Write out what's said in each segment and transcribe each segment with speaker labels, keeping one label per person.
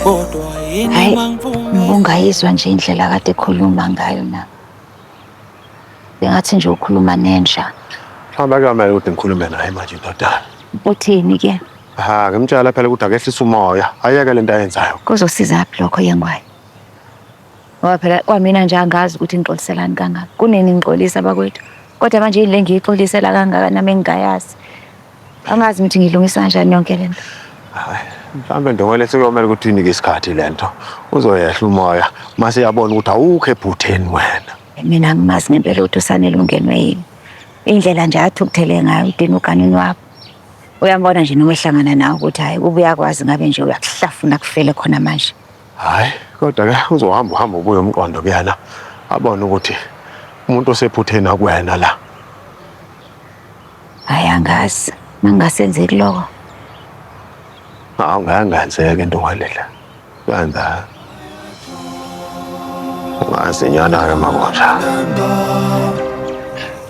Speaker 1: kodwa yini Hhayi, mangiphume Ubungayizwa nje indlela kade ekhuluma ngayo na. Bengathi nje ukhuluma nenja. Hamba kamele
Speaker 2: ukuthi ngikhulume naye manje ndodana. Uthini ke?
Speaker 1: Ha, ngimtshela
Speaker 2: phela ukuthi akehlise umoya. Ayeke lento ayenzayo. Kuzosiza phi lokho
Speaker 1: yengwayo? Ngoba phela kwamina nje angazi ukuthi ngixoliselani kangaka. Kunini ngixolisa bakwethu. Kodwa manje yini le ngiyixolisela kangaka nami engingayazi. Angazi ukuthi ngilungisa kanjani yonke le nto. Hayi,
Speaker 2: mhlawumbe Ndongole sekuyomele ukuthi uyinike isikhathi le nto. Uzoyehla umoya uma seyabona ukuthi awukho ephutheni wena. Mina angimazi
Speaker 1: ngempela ukuthi uSanele ungenwe yini. Indlela nje athukuthele ngayo udina uganini wakho. Uyambona nje noma ehlangana nawe ukuthi hhayi ubuye akwazi ngabe nje uyakuhlafuna kufele khona manje. Hhayi
Speaker 2: kodwa ke uzohamba uhamba ubuye umqondo kuyena abone ukuthi umuntu osephutheni akuwena la.
Speaker 1: Hhayi angazi mangasenzeki lokho. Hawu
Speaker 2: ngangenzeka into ngalendlela. Kwenza. Ungazi nyana ke makunjalo.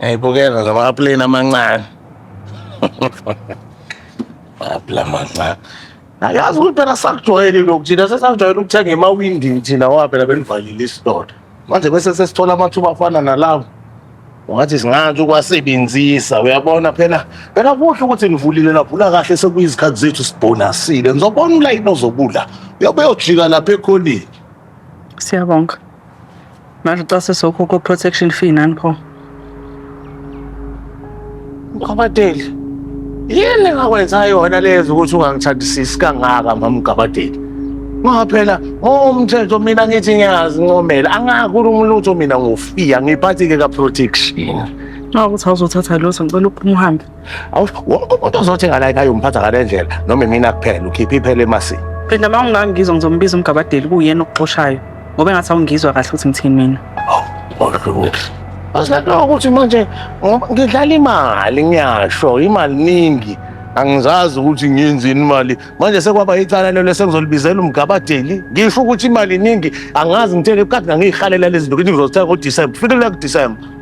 Speaker 2: Ngiyibukela ngama aplane amancane. Apla amancane. Ayazi ukuthi phela sakujwayele lokhu thina sesakujwayele ukuthenga emawindini thina ngoba phela benivalile isitolo. Manje bese sesithola amathuba afana nalawo. Ungathi singathi ukwasebenzisa uyabona phela phela kuhle ukuthi nivulile lavula kahle sekuyizikhathi zethu sibhonasile. Ngizobona ulayini ozobula. Uyobe uyojika lapha ekhoneni. Siyabonga.
Speaker 3: Manje xa sesokhokha o-protection fee nani pho.
Speaker 2: Mgabadeli, yini engakwenza yona lezi ukuthi ungangithandisisi kangaka mamgabadeli? Ngoba phela ngowomthetho mina ngithi ngiyazi ncomela, angakhulumi lutho mina ngofiya ngiphathi-ke ka-protection. Nxa ukuthi
Speaker 3: awuzothatha lutho ngicela uphuma uhambe. Awu wonke umuntu
Speaker 2: ozothi ngala ngayo umphatha ngale ndlela noma imina kuphela ukhipha iphele emasini. Phela uma ungangizwa
Speaker 3: ngizombiza umgabadeli kuyena okuxoshayo ngoba engathi awungizwa kahle ukuthi ngithini mina. Asinakho
Speaker 2: ukuthi manje ngoba ngidlala imali ngiyasho imali ningi angizazi ukuthi ngiyenzini imali manje sekwaba icala lelo sengizolibizela umgabadeli ngisho ukuthi imali ningi angazi ngithele kade ngangiyihalela lezi zinto ukuthi ngizozithenga ngoDisemba kufikela kuDisemba